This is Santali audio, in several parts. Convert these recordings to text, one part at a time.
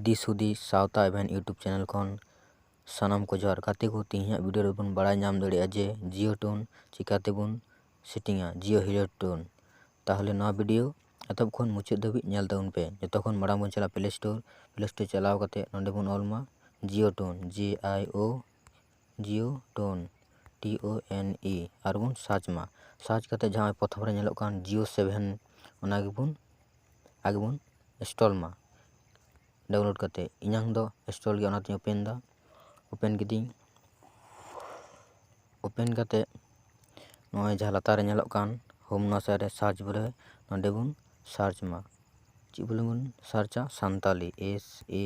ᱫᱤᱥ ᱦᱩᱫᱤᱥ ᱥᱟᱶᱛᱟ ᱮᱵᱷᱮᱱ ᱤᱭᱩᱴᱩᱵᱽ ᱪᱮᱱᱮᱞ ᱠᱷᱚᱱ ᱥᱟᱱᱟᱢ ᱠᱚ ᱡᱚᱦᱟᱨ ᱜᱟᱛᱮ ᱠᱚ ᱛᱮᱦᱮᱧᱟᱜ ᱵᱷᱤᱰᱤᱭᱳ ᱨᱮᱵᱚᱱ ᱵᱟᱲᱟᱭ ᱧᱟᱢ ᱫᱟᱲᱮᱭᱟᱜᱼᱟ ᱡᱮ ᱡᱤᱭᱳ ᱴᱳᱱ ᱪᱤᱠᱟᱛᱮᱵᱚᱱ ᱥᱮᱴᱤᱝᱟ ᱡᱤᱭᱳ ᱦᱤᱨᱳ ᱴᱳᱱ ᱛᱟᱦᱚᱞᱮ ᱱᱚᱣᱟ ᱵᱷᱤᱰᱤᱭᱳ ᱮᱛᱚᱦᱚᱵ ᱠᱷᱚᱱ ᱢᱩᱪᱟᱹᱫ ᱫᱷᱟᱹᱵᱤᱡ ᱧᱮᱞ ᱛᱟᱵᱚᱱ ᱯᱮ ᱡᱚᱛᱚ ᱠᱷᱚᱱ ᱢᱟᱲᱟᱝ ᱵᱚᱱ ᱪᱟᱞᱟᱜᱼᱟ ᱯᱞᱮ ᱥᱴᱳᱨ ᱯᱞᱮ ᱥᱴᱳᱨ ᱪᱟᱞᱟᱣ ᱠᱟᱛᱮᱫ ᱱᱚᱰᱮ ᱵᱚᱱ ᱚᱞ ᱢᱟ Jio tone J I O Jio tone T O ᱮᱱ ᱤ ᱟᱨ ᱵᱚᱱ ᱥᱟᱨᱪ ᱢᱟ ᱥᱟᱨᱪ ᱠᱟᱛᱮᱫ ᱡᱟᱦᱟᱸ ᱯᱨᱚᱛᱷᱚᱢ ᱨᱮ ᱧᱮᱞᱚᱜ ᱠᱟᱱ ᱡᱤᱭᱳ ᱥᱮᱵᱷᱮᱱ ᱚᱱᱟ ᱜᱮᱵᱚᱱ ᱟᱜᱮ ᱵᱚᱱ ᱤᱱᱥᱴᱚᱞ ᱢᱟ ᱰᱟᱣᱩᱱᱞᱳᱰ ᱠᱟᱛᱮᱫ ᱤᱧᱟᱹᱝ ᱫᱚ ᱤᱱᱥᱴᱚᱞ ᱜᱮ ᱚᱱᱟᱛᱤᱧ ᱳᱯᱮᱱ ᱫᱟ ᱳᱯᱮᱱ ᱠᱤᱫᱟᱹᱧ ᱳᱯᱮᱱ ᱠᱟᱛᱮᱫ ᱱᱚᱜᱼᱚᱭ ᱡᱟᱦᱟᱸ ᱞᱟᱛᱟᱨ ᱨᱮ ᱧᱮᱞᱚᱜ ᱠᱟᱱ ᱦᱳᱢ ᱱᱚᱣᱟ ᱥᱟᱭᱤᱰ ᱨᱮ ᱥᱟᱨᱪ ᱵᱚᱞᱮ ᱱᱚᱰᱮ ᱵᱚᱱ ᱥᱟᱨᱪ ᱢᱟ ᱪᱮᱫ ᱵᱚᱞᱮ ᱵᱚᱱ ᱥᱟᱨᱪᱼᱟ ᱥᱟᱱᱛᱟᱲᱤ ᱮᱥ ᱮ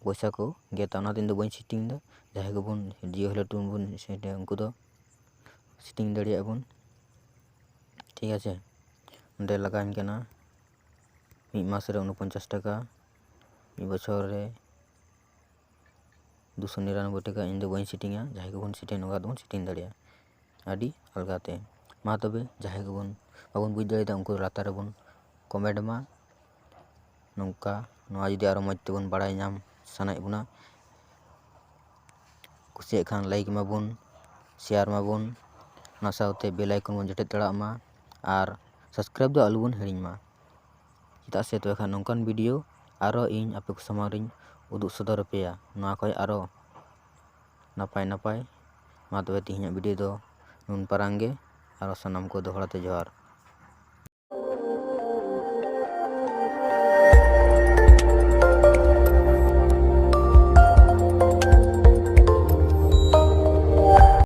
ᱯᱚᱭᱥᱟ ᱠᱚ ᱜᱮᱫᱟ ᱚᱱᱟᱛᱮ ᱤᱧ ᱫᱚ ᱵᱟᱹᱧ ᱥᱮᱴᱤᱝ ᱫᱟ ᱡᱟᱦᱟᱸᱭ ᱜᱮᱵᱚᱱ ᱡᱤᱭᱳ ᱦᱚᱞᱮ ᱴᱤᱢ ᱵᱚᱱ ᱥᱮᱴᱟ ᱩᱱᱠᱩ ᱫᱚ ᱥᱮᱴᱤᱝ ᱫᱟᱲᱮᱭᱟᱜᱼᱟ ᱵᱚᱱ ᱴᱷᱤᱠ ᱟᱪᱷᱮ ᱚᱸᱰᱮ ᱞᱟᱜᱟᱣ ᱤᱧ ᱠᱟᱱᱟ ᱢᱤᱫ ᱢᱟᱥ ᱨᱮ ᱩᱱᱚᱯᱚᱧᱪᱟᱥ ᱴᱟᱠᱟ ᱢᱤᱫ ᱵᱚᱪᱷᱚᱨ ᱨᱮ ᱫᱩᱥᱚ ᱱᱤᱨᱟᱱᱚᱵᱵᱳᱭ ᱴᱟᱠᱟ ᱤᱧ ᱫᱚ ᱵᱟᱹᱧ ᱥᱮᱴᱤᱝᱟ ᱡᱟᱦᱟᱸᱭ ᱜᱮᱵᱚᱱ ᱥᱮᱴᱤᱝ ᱱᱚᱝᱠᱟ ᱛᱮᱵᱚᱱ ᱥᱮᱴᱤᱝ ᱫᱟᱲᱮᱭᱟᱜᱼᱟ ᱟᱹᱰᱤ ᱟᱞᱜᱟ ᱛᱮ ᱢᱟ ᱛᱚᱵᱮ ᱡᱟᱦᱟᱸᱭ ᱜᱮᱵᱚᱱ ᱵᱟᱵᱚᱱ ᱵᱩᱡᱽ ᱫᱟᱲᱮᱭᱟᱫᱟ ᱩᱱᱠᱩ ᱞᱟᱛᱟᱨ ᱨᱮᱵᱚᱱ ᱠᱚᱢᱮᱱᱴ ᱢᱟ ᱱᱚᱝᱠᱟ ᱱᱚᱣᱟ ᱡᱩᱫᱤ ᱟᱨᱚ ᱢᱚᱡᱽ ᱛᱮᱵᱚᱱ ᱵᱟᱲᱟᱭ ᱧᱟᱢ ᱥᱟᱱᱟᱭᱮᱫ ᱵᱚᱱᱟ ᱠᱩᱥᱤᱭᱟᱜ ᱠᱷᱟᱱ ᱞᱟᱭᱤᱠ ᱢᱟᱵᱚᱱ ᱥᱮᱭᱟᱨ ᱢᱟᱵᱚᱱ ᱚᱱᱟ ᱥᱟᱶᱛᱮ ᱵᱮᱞ ᱟᱭᱠᱚᱱ ᱵᱚᱱ ᱡᱚᱴᱮᱫ ᱫᱟᱲᱮᱭᱟᱜ ᱢᱟ ᱟᱨ ᱥᱟᱵᱥᱠᱨᱟᱭᱤᱵᱽ ᱫᱚ ᱟᱞᱚ ᱵᱚᱱ ᱦᱤᱲᱤᱧ ᱢᱟ ᱪᱮᱫᱟᱜ ᱥᱮ ᱛᱚᱵᱮ ᱠᱷᱟᱱ ᱱᱚᱝᱠᱟᱱ ᱵᱷᱤᱰᱤᱭᱳ ᱟᱨᱚ ᱤᱧ ᱟᱯᱮ ᱠᱚ ᱥᱟᱢᱟᱝ ᱨᱤᱧ ᱩᱫᱩᱜ ᱥᱚᱫᱚᱨ ᱟᱯᱮᱭᱟ ᱱᱚᱣᱟ ᱠᱷᱚᱡ ᱟᱨᱚ ᱱᱟᱯᱟᱭ ᱱᱟᱯᱟᱭ ᱢᱟ ᱛᱚᱵᱮ ᱛᱮᱦᱮᱧᱟᱜ ᱵᱷᱤᱰᱤᱭᱳ ᱫᱚ ᱱᱩᱱ ᱯᱟᱨᱟᱝ ᱜᱮ ᱟᱨᱚ ᱥᱟᱱᱟᱢ ᱠᱚ ᱫᱚᱦᱲᱟ ᱛᱮ ᱡᱚᱦᱟᱨ